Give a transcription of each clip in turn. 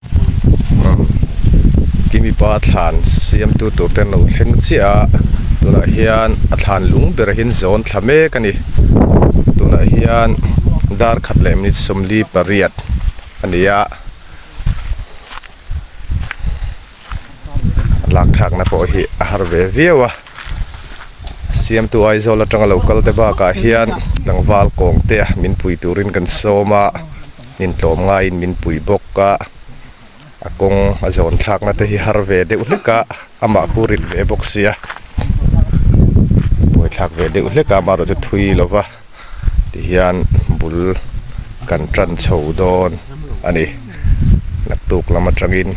Umm i mipa thlan siamtu tur ten lo thleng chiah a tunah hian a thlan lung berah hian zawn thla mek a ni tunah hian dar khat leh minute sawmli pariat a ni a lak thlakna pawh hi a har ve viau a. siamtu Aizawl atanga lo kalte bakah hian tlangval kawng te min pui turin kan sawm a, hnim tlawm ngaiin min pui bawk a, a kawng a zawn thlakna te hi har ve deuh hlek a, amah khu rit ve bawk sia buaithlak ve deuh hlek a, amaherawhchu thui lova. ti hian bul kan tan chho dawn a ni naktuk lam atangin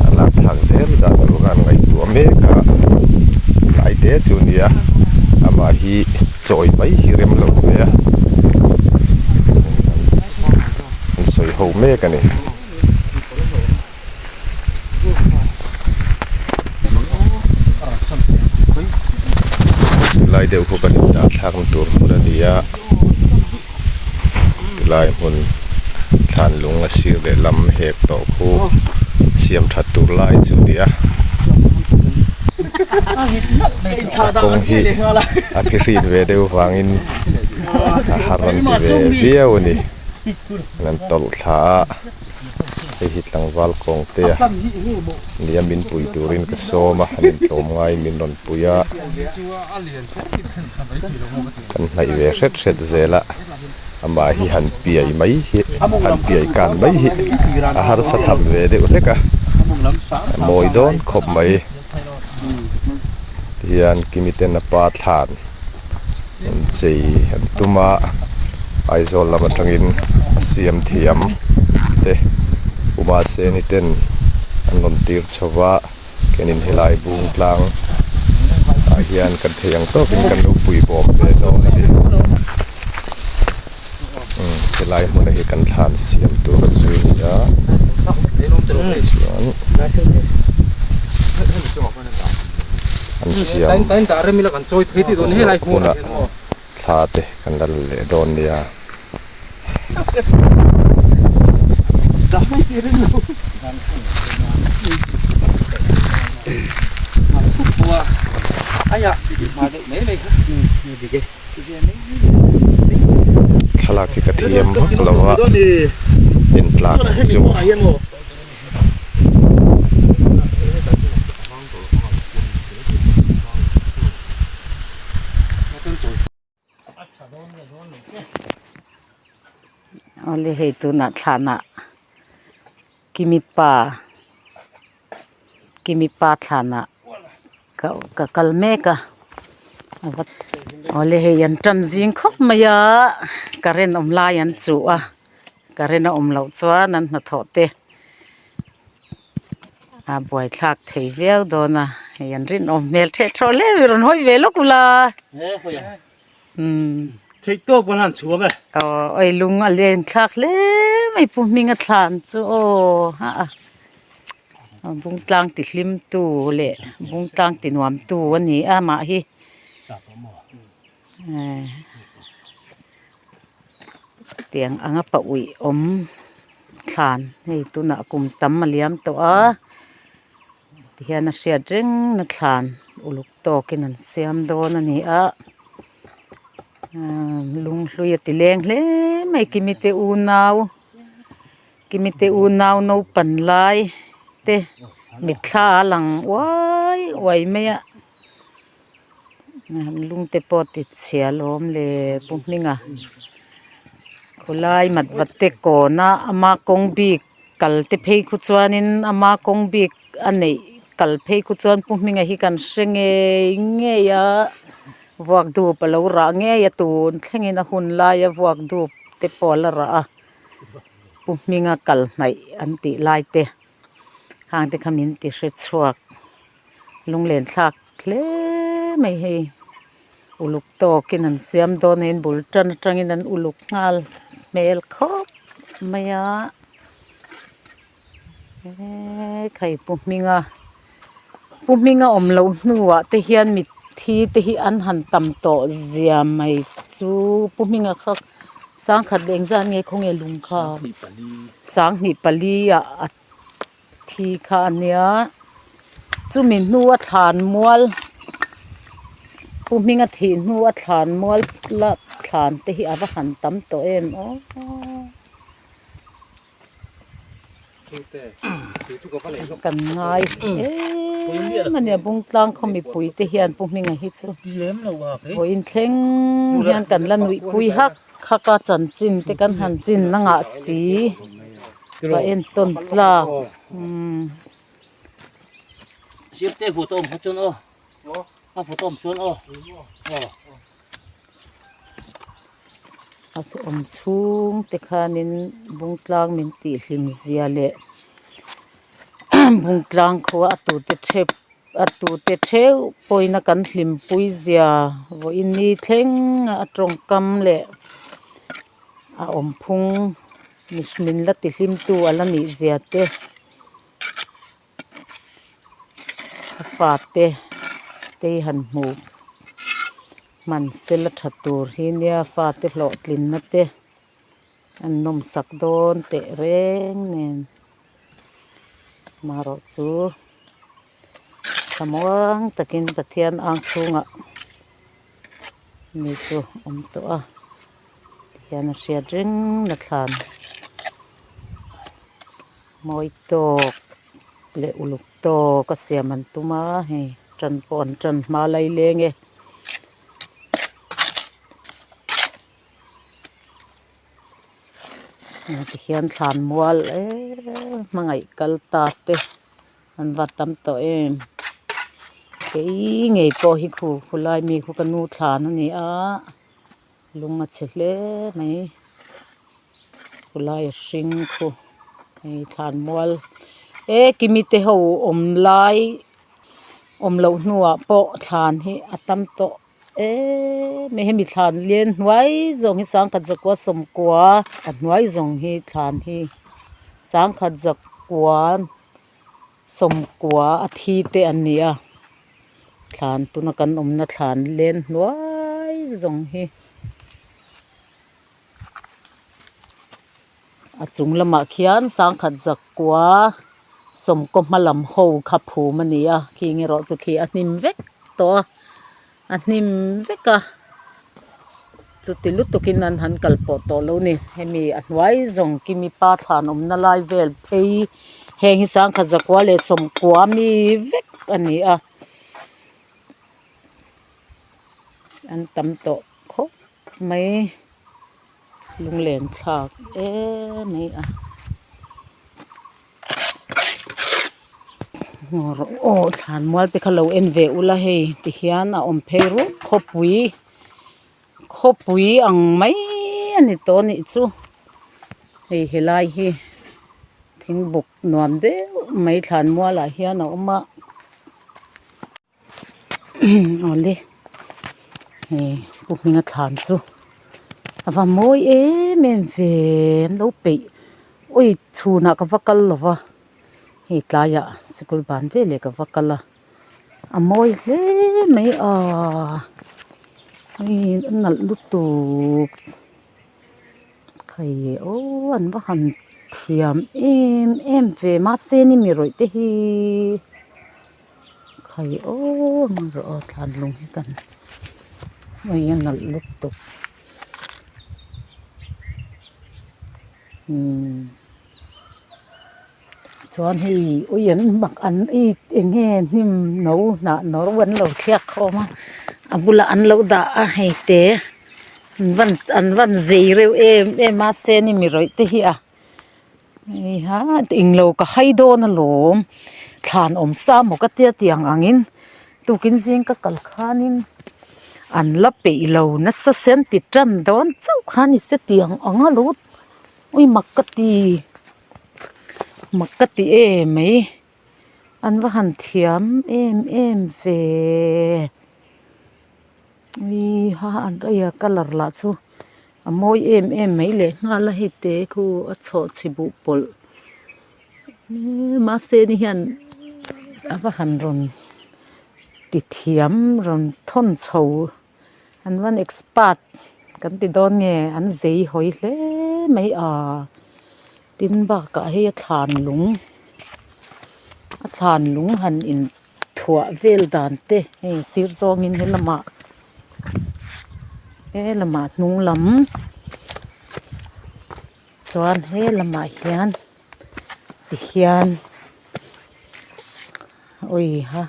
a lak thlak zel dan chu a rawn ngaihtuah mek a hnai te chu a nia amah hi chawi mai hi rem lo mai a an sawi ho mek a ni. lai deuh khaw kan indah thlak na tur hmun a ni a tilai hmun thlan lung a sir leh lam hek tawh khu siam that tur lai chu a ni a a kawng hi a phi hrit ve deuh vang in a har rawn ti ve viau a ni kan tawlh thla a. hei hi tlangval kawngte a nia min pui turin ka sawm a an intlawm ngai min rawn pui a kan hnaih ve hret hret zel a amah hi han piai mai hi han piai kan mai hi a harsa tham ve deuh hlek a a mawi dawn khawp mai. Tihian Kimi ten a pa thlan an chei an tum a, Aizawl lam atangin a siam thiam te Pumase ni ten an rawn tir chho va, kenin helai bung tlang ah hian kan thei ang tawkin kan lo pui bawm ve dawn a ni. helai hmuna hi kan thlan siam tur a chu ni a an siam hmun ah thla te kan la la leh dawn ni a. thlalak hi ka thiam vak lo a en tlak ang chu awle hei tunah thlanah ki mipa. Kimi pa thlan ah ka kal mek a awle hei an tan zing khawp mai a current awm lai an chu a current a awm loh chuan an hnathawh te a buai thlak thei viau dawn a hei an rinawm hmel the tho hle a rawn hawi ve lawk ula. Theih tawk pawh hlan chhuak e. Aww oi lung a lian thlak hle mai pu hming a thlan chu aww ha a bung tlang ti hlim tu leh bung tlang ti nuam tu a ni a mah hi tiang anga paui awm thlan hei tunah kum tam a liam tawh a. ti hian a hriat reng na thlan uluk tawkin an siam dawn a ni a umm lung hlui a ti leng hle mai kimi te unau kimi te unau naupan lai te mitthla a lang uai uai mai a. lungte pawh titchhia lawm leh pu hminga khawlai mat va te kawna ama kawng bik kal te phei khaw chuanin ama kawng bik a neih kal phei khaw chuan pu hminga hi kan hre ngei ngei a vuak dup a lo rah ngei a tun thlengin a hun laia vuak dup te pawh a la rah a pu hminga kal hnaih an tih lai te. Khangte kha min ti hre chhuak. Lunglen thlak hle mai hi uluk tawkin an siam dawn a in bul tan atangin an uluk nghal hmel khawp mai a. Khaipu hminga. Pu Hming a awm loh hnuah te hian mithi te hi an han tam tawh zia mai chu Pu Hming a kha sangkhat leh engzat nge khaw nge lung kha sanghnih pali ah a thi kha a nia chumi hnu a thlan mual Pu Hming a thih hnu a thlan mual la thlan te hi a va han tam tawh em aw. kan ngai em a ni a bung tlang khaw mipui te hian pu hming a hi chu vawi in thleng hian kan la nuih pui hak hak a chanchin te kan han chin na ngah si va en tawn tlak umm. a photo awm chuan aw aw a awm chhung te khanin bung tlang min tih hlim zia leh bung tlang khua a tu te chep a tu te theu pawhin a kan hlim pui zia vawi in ni thleng a a tawngkam leh a awm phung min la ti hlim tu a la nih zia te. A fate tei han hmu hman se la tha tur hi nia fate hlawh tlinna te an nawm sak dawn teh reng nen amaherawh chu tha muang takin pathian ang chhungah. mi chu awm tawh a tihian a hriat reng nathlân mawi tâwk leh uluk tâwk a siam an tum a hei ṭan pawh an ṭan hma lai lêng e. An vat tam tawh em. Kei ngei pawh hi khu khulai mi khu ka nu thlan a ni a, lung a chhe hle mai. Khulai hring khu hei thlan mual e kimi te ho awm lai awm loh hnuah pawh thlan hi a tam tawh. e mi hi mi thlan lian hnuai zawng hi sangkhat zakua sawmkua a hnuai zawng hi thlan hi sangkhat zakua sawmkua a thi te an ni a thlan tuna kan awmna thlan lian hnuai zawng hi. A chung lamah khian Sangkhat Zakua sawmkaw hma lam ho kha phum a ni a, khing erawh chu khi a hnim vek tawh a, a hnim vek a, chuti lutukin an han kal pawh tawh lo ni. Hemi a hnuai zawng Kimi pa thlan awmna lai vel phei heng hi Sangkhat Zakua leh sawmkua mi vek a ni a, an tam tawh khawp. mai lunglenchhak em mai a ngawr aw thlan mual te kha lo en ve ula hei ti hian a awm phei rup khawpui khawpui ang mai a ni tawh a nih chu hei helai hi thingbuk nuam deuh mai thlan mual ah hian a awm a. awle he pu hminga thlan chu a va mawi em em ve an lo peih ui chhunah ka va kal lova hei tlaiah sikul ban veleh ka va kal a a mawi hle mai a hei a nalh lutuk hei aww an va han thiam em em ve mahse ni mi rawih te hi. khai aww mawng rawh aw tlanlung hi kan awii a nalh lutuk tuk umm chuan hei awii an mak an ei eng nge hnim no hnah no an lo thlek khawm a a bulah an lo dah a hei te an van an van zei reuh em em a seni mirawih te hi a. Hei englo ka hai dawn alawm thlan awm sa maw ka tia tiang angin tukin zing ka kal khanin an la peih lo nasa se an ti tan dawn chauh kha ni se tiang ang a lo ui makati makati em mai an va han thiam em em ve. Ui ha ha an reiha colour lah chu a mawi em em mai leh nghal a hete khu a chhawh chhi buh pawlh mahse ni hian a va han rawn ti thiam rawn thawn chho an van expert kan ti dawn nge an zai hawi hle mai a. Tin bakah hi a thlan lung a thlan lung han in thuah vel dan te hei sir zawng in he lamah he lamah hnung lam chuan he lamah hian tihian a awih a.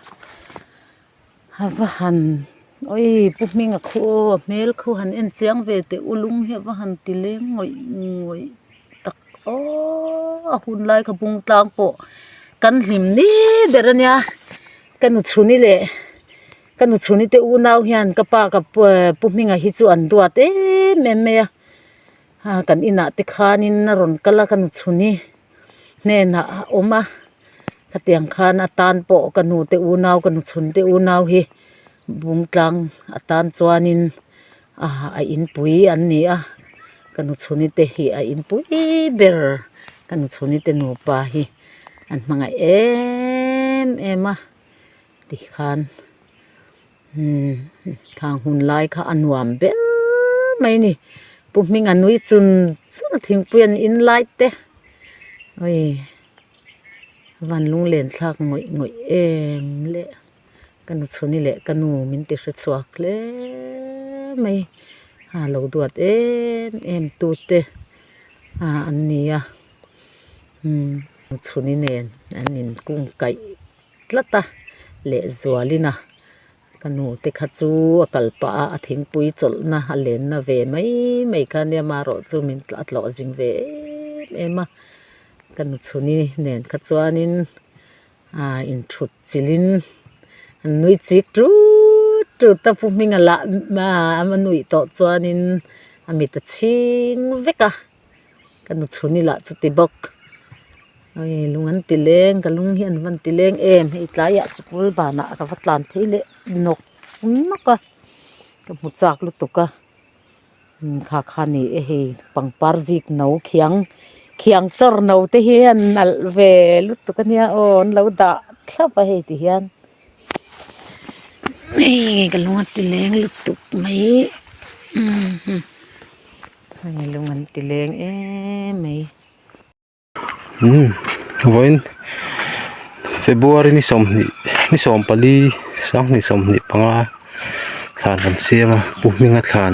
A va han oi pu hming a khu aw a hmel kho han en chiang ve teh u lung hi a va han ti leng ngawih ngawih tak aww a hun lai kha bung tlang pawh kan hlim ni ber a nia ka nu chhuni leh ka nu chhuni te unau hian ka pa ka pu hming ah hi chu an duat em em mai a. Haa kan inah te khanin a rawn kal a ka nu chhun hi hnenah a awm a khatiang khan atan pawh ka nu te unau ka nu chhun te unau hi bung tlang atan chuanin aa a inpui an ni a ka nu chhun ite hi a inpui ber ka nu chhun ite nupa hi an hmangaih em em a. ti khan thlang hun lai kha a nuam ber mai a ni pu hming a nui chun chun a thingpui an in lai te awii van lung len thlak ngawih ngawih em le ka nu chhuni leh ka nu min ti hre chhuak hle mai ha lo duat em em tu te ha an nia chhuni nen an in kung kaih. tlat a, Lehzualina ka nu te kha chu a kal pah a, a thingpui chawlhna a lenna ve mai mai kha nia, mah erawh chu min a tlawh zing ve em em a, ka nu chhuni nen kha chuanin ah in thut chilhin an nui chik tut tut a, pu Hmingala ah a nuih tawh chuanin a mit a chhing vek a. ka nu chhun ila chu ti bawk hei lung an ti leng ka lung hi an van ti leng em hei tlaiah sikul banah ka va tlan phei leh nawk nawk a ka hmu chak lutuk a imm khakha ni e hei pangpar zik no khiang khiang chawr no te hian nalh ve lutuk ania aw an lo dah thlap a hei ti hian. Hei ka lung a ti leng lutuk mai ummh hei lung an ti leng em mai umm vawiin February ni sawmhnih ni sawm pali sanghnih sawmhnih panga thlan an siam a pu hminga thlan.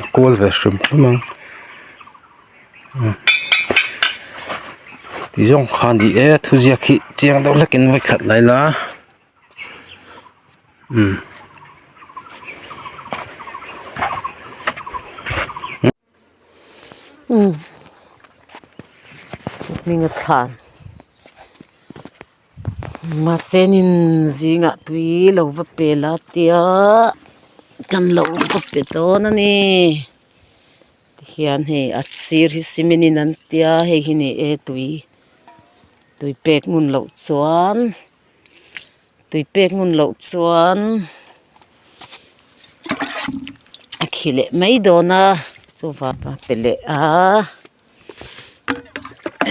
a kual ve hrim hrim a umm ti zawng kha ni e thu ziak hi chiang deuh hlekin vawi khat lai la umm. hming a thlan mahse ni'n zingah tui lo va pe la tia kan lo va pe dawn a ni tihian hei a sir hi cement in an tia a hei hi ni e tui tui pek ngun loh chuan tui pek ngun loh chuan-- a khi leh mai dawn a chu vava pe leh a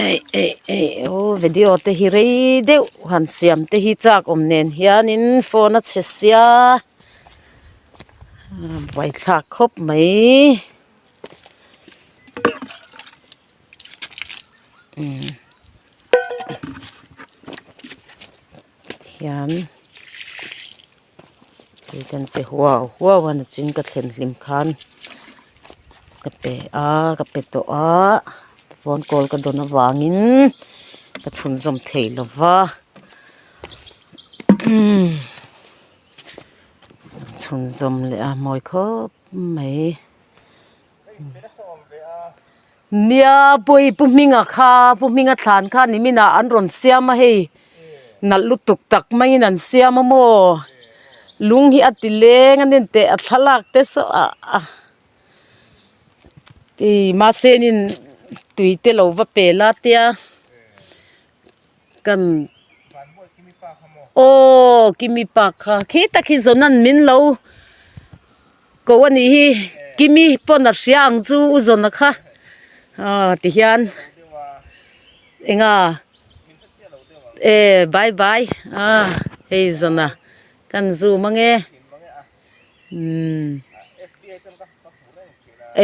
eih eih eih aw video te hi rei deuh han siam te hi chak awm nen hianin phone a chhe sia a baithlak khawp mai umm hian. Kei kan pe huau huau a ni chin ka thlen hlim khan ka pe a ka pe tawh a phone call ka dawn avangin ka chhunzawm thei lo va umm chhunzawm leh a mawi khawp mai. Nia pawi pu hminga kha pu hminga thlan kha nimin ah an rawn siam a hei nalh lutuk tak mai in an siam a maw lung hi a ti leng a ni teh a thlalak te saw ah ah ih mahse in in tui te lo va pel a tia kan aw kimi pa kha khi ta khi zawn a min lo. Koh a nih hi Kimi pawn a hria ang chu u Zona kha aw ti hian enga e bye bye a hei Zona kan zum ange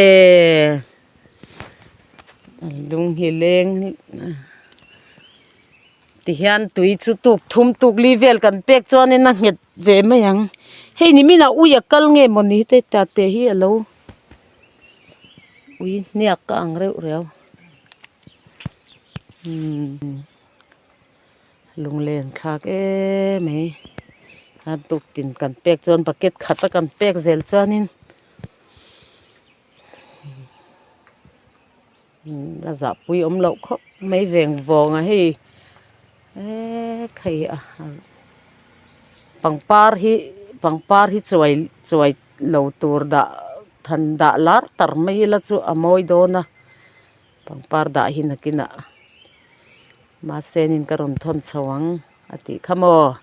e lung hi leng ti hian tui chu tuk thum tuk li vel kan pek chuan in a nghet. ve mai ang hei ni min ah ui a kal nge maw ni te ta te hi alo ui hniak ka ang reuh reu umm lunglen thlak em mai a buk in kan pek chuan bucket khat a kan pek zel chuan in. la zahpui awm loh khawp mai veng vawnga hei eee khei a pangpar hi pangpar hi chuai chuai lo tur dah than dah lar tar mai ila chu a mawi dawn a pangpar dah hi nakinah mahsenin ka rawn thawn chho ang a tih kha maw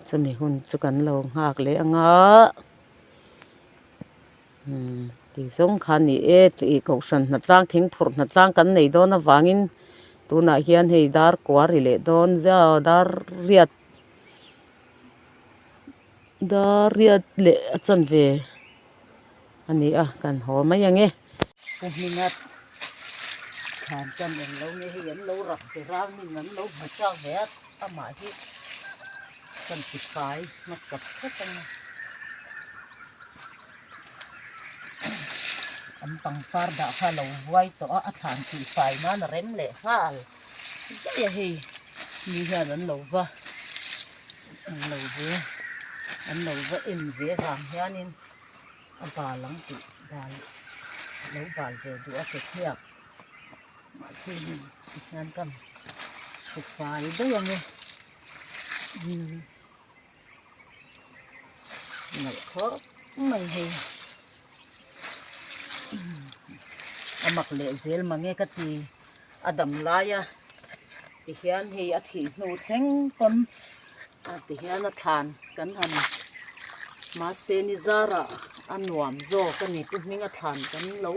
chumi hun chu kan lo nghak leh ang a. Tih zawng kha ni e, tih kohhran hna tlang, thing phurh hna tlang kan nei dawn avangin tunah hian hei dar kua ri leh dawn ziau, dar riat, dar riat leh a chan ve a ni a, kan haw mai ang e. Ka hming a, thlan chuan eng lo nge hei an lo rak ber a, min an lo hmu chhuak ve a, amah hi chuan tifai hmasa thlek a ni. An pangpar dah kha alo vuai tawh a, a thlan tih fai nan a rem leh nghal zai a hei, mi hian an lo va an lo ve an lo va en ve vang hianin a bal ang tih bal lo bal ve duh a kekhiak mahse hei hian ka hre fai daih ang e. nalh khawp mai hei a mak leh zel mange ka ti a dam lai a ti hian hei a thih hnu thleng pawn a ti hian a thlan kan han mahse nizar ah a nuam zawk a ni pu hming a thlan kan lo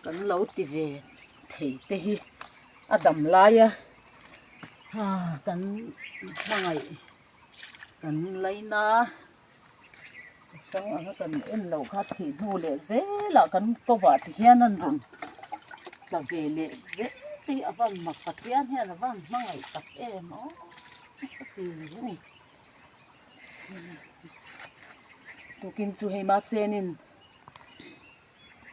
kan lo ti ve thei te hi a dam lai a ha kan hmangaih-- Kan laina chang anga kan en lo kha theih hnu leh zela kan kawva ti hian a rawn tla ve leh zet hi a van mak pathian hian a van hmangaih tak em aw ka ti a ni tukin chu hei masenin.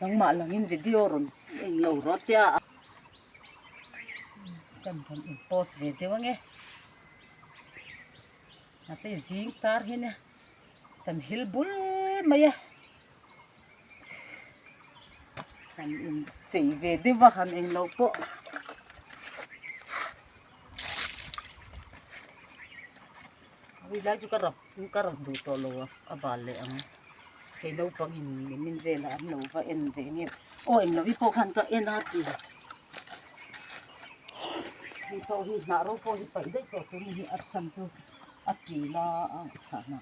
Nangmah langin video rawn en lo rual tia a. Kan rawn en post ve deuh ange. Mahse zing kar hi nia kan hil bul mai a. Kan in chei ve deuh a han englo pawh. Ui lai chu ka rap. Tin ka rawn duh tawh lo a bal leh ang. Kei naupangin min velah an lo va en ve ngei. Aw eng lo i pawh khan ka en a ti. Hei pawh hi hnah ro pawh hi paih daih tawh tuni hi a chhan chu a ti la a thlah hna.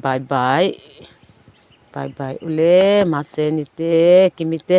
Bye bye bye bye ule mahse nite kimite.